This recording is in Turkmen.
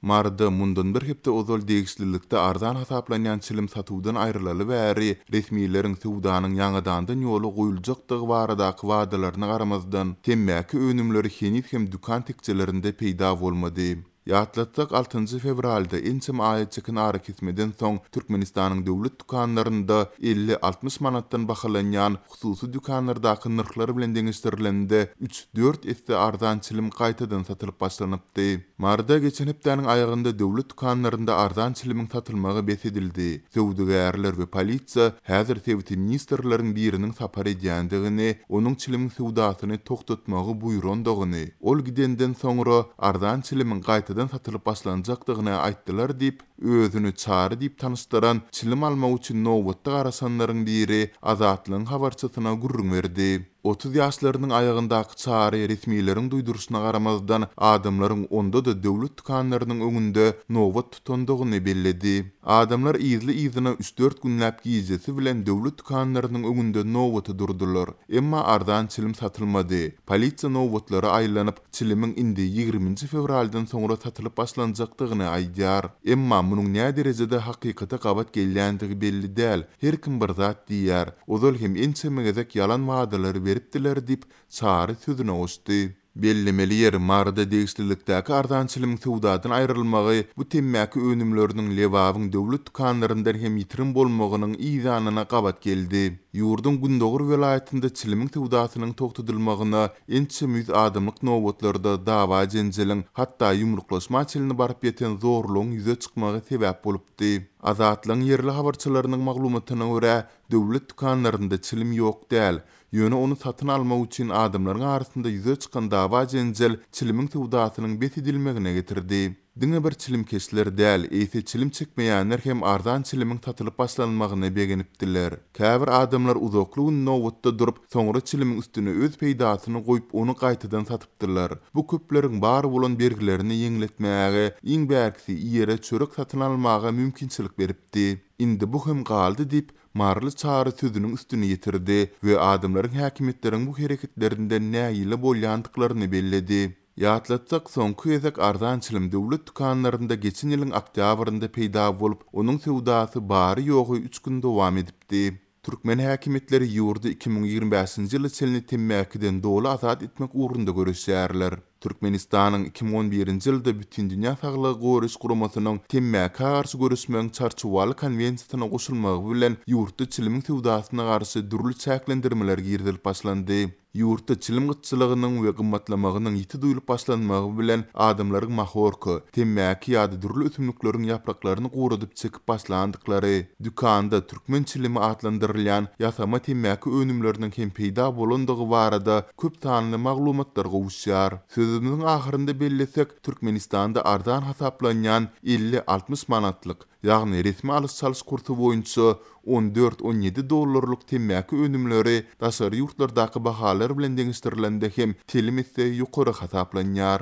Maryda mundan bir hepde ozal degişlilikde arzan hasaplanýan çilim satuwdan aýrylaly bäri, resmileriň söwdanyň ýaňadandan ýola goýuljakdygy baradaky wadalaryna garamazdan, temmäki önümleri heniz hem dükan tekjelerinde peýda bolmady. Ýatlatsak, altynjy fewralda, ençeme aýa çeken arakesmeden soň, Türkmenistanyň döwlet dükanlarynda elli-altmyş manatdan bahalanýan hususy dükanlardaky nyrhlar bilen deňeşdirilende üç, dört esse arzan çilim gaýtadan satylyp başlanypdy. Martda geçen hepdäniň aýagynda döwlet dükanlarynda arzan çilimiň satylmagy bes edildi. Söwdagärler we polisiýa häzir sebiti ministrleriň biriniň sapar edýändigini, onuň çilimiň söwdasyny togtatmagy buýrandygyny, ol gidenden soňra arzan çilimiň gaýtadan satylyp başlanjakdygyny aýtdylar diýip, Özüni Çary diýip tanyşdyran çilim almak üçin nobatda garaşanlaryň biri Azatlygyň habarçysyna gürrüň berdi. Otuz ýaşlarynyň aýagyndaky Çary resmileriň duýduryşyna garamazdan, adamlaryň onda-da döwlet dükanlarynyň öňünde nobat tutandygyny belledi. Adamlar yzly-yzyna üç-dört günläp gijesi bilen döwlet dükanlarynyň öňünde nobata durdular. Emma arzan çilim satylmady. Polisiýa nobatlara aýlanyp, çilimiň indi ýigriminji fewraldan soňra satylyp başlanjakdygyny aýdýar. Emma munuň nä derejede hakykata gabat gelýändigi belli däl, her kim bir zat diýýär. Ozal hem ençeme gezek ýalan wadalary beripdiler diýip, Çary sözüne goşdy. Bellemeli ýeri, Maryda degişlilikdäki arzan çilimiň söwdadan aýrylmagy bu temmäki önümleriniň Lebabyň döwlet dükanlaryndan hem ýitirim bolmagynyň yzanyna gabat geldi. Ýurduň gündogar welaýatynda çilimiň söwdasynyň togtadylmagyna Ençeme ýüz adamlyk nobatlarda dawa-jenjeliň, hatda ýumruklaşma çenli baryp ýeten zorlugyň ýüze çykmagy sebäp bolupdy. Azatlygyň ýerli habarçylarynyň maglumatyna görä, döwlet dükanlarynda çilim ýok däl. Ýöne ony satyn almak üçin adamlaryň arasynda ýüze çykan dawa-jenjel çilimiň söwdasynyň bes edilmegine getirdi. Diňe bir çilimkeşler däl, eýse çilim çekmeýänler hem arzan çilimiň satylyp başlanmagyna begenipdiler. Käbir adamlar uzakly gün nobatda durup, soňra çilimiň üstüne öz peýdasyny goýup, ony gaýtadan satypdyrlar. Bu köpleriň bar bolan bergilerini ýeňletmäge, iň bärkisi ýere çörek satyn almaga mümkinçilik beripdi. Indi bu hem galdy, diýip, Maryly Çary sözüniň üstüni ýetirdi we adamlaryň häkimiýetleriň bu hereketlerinden nägile bolýandyklaryny belledi. Ýatlatsak, soňky gezek arzan çilim döwlet dükanlarynda geçen ýylyň oktýabrynda peýda bolup, onuň söwdasy bary-ýogy üç gün dowam edipdi. Türkmen häkimiýetleri ýurdy iki müň ýigrimi bäşinji ýyla çenli temmäkiden doly azat etmek ugrunda göreşýärler. Türkmenistanyň iki müň on birinji ýylda Bütindünýä Saglygy Goraýyş Guramasynyň Temmäkä garşy göreşmegiň Çarçuwaly konwensiýasyna goşulmagy bilen ýurtda çilimiň söwdasyna garşy dürli çäklendirmeler girizilip başlandy. Ýurtda çilim gytçylygynyň we gymmatlamagynyň ýiti duýlup başlanmagy bilen adamlaryň mahorka, temmäki ýa-da dürli ösümlikleriň ýapraklaryny guradyp çekip başlandyklary, dükanda türkmen çilimi atlandyrylýan ýasama temmäki önümleriniň hem peýda bolandygy barada köp sanly maglumatlar gowuşýar. Sözümiziň ahyrynda bellesek, Türkmenistanda arzan hasaplanýan elli-altmyş manatlyk, Ýagny resmi alyş-çalyş kursy boýunça on dört, on ýedi dollarlyk temmäki önümleri daşary ýurtlardaky bahalar bilen deňeşdirilende hem telim esse ýokary hasaplanýar.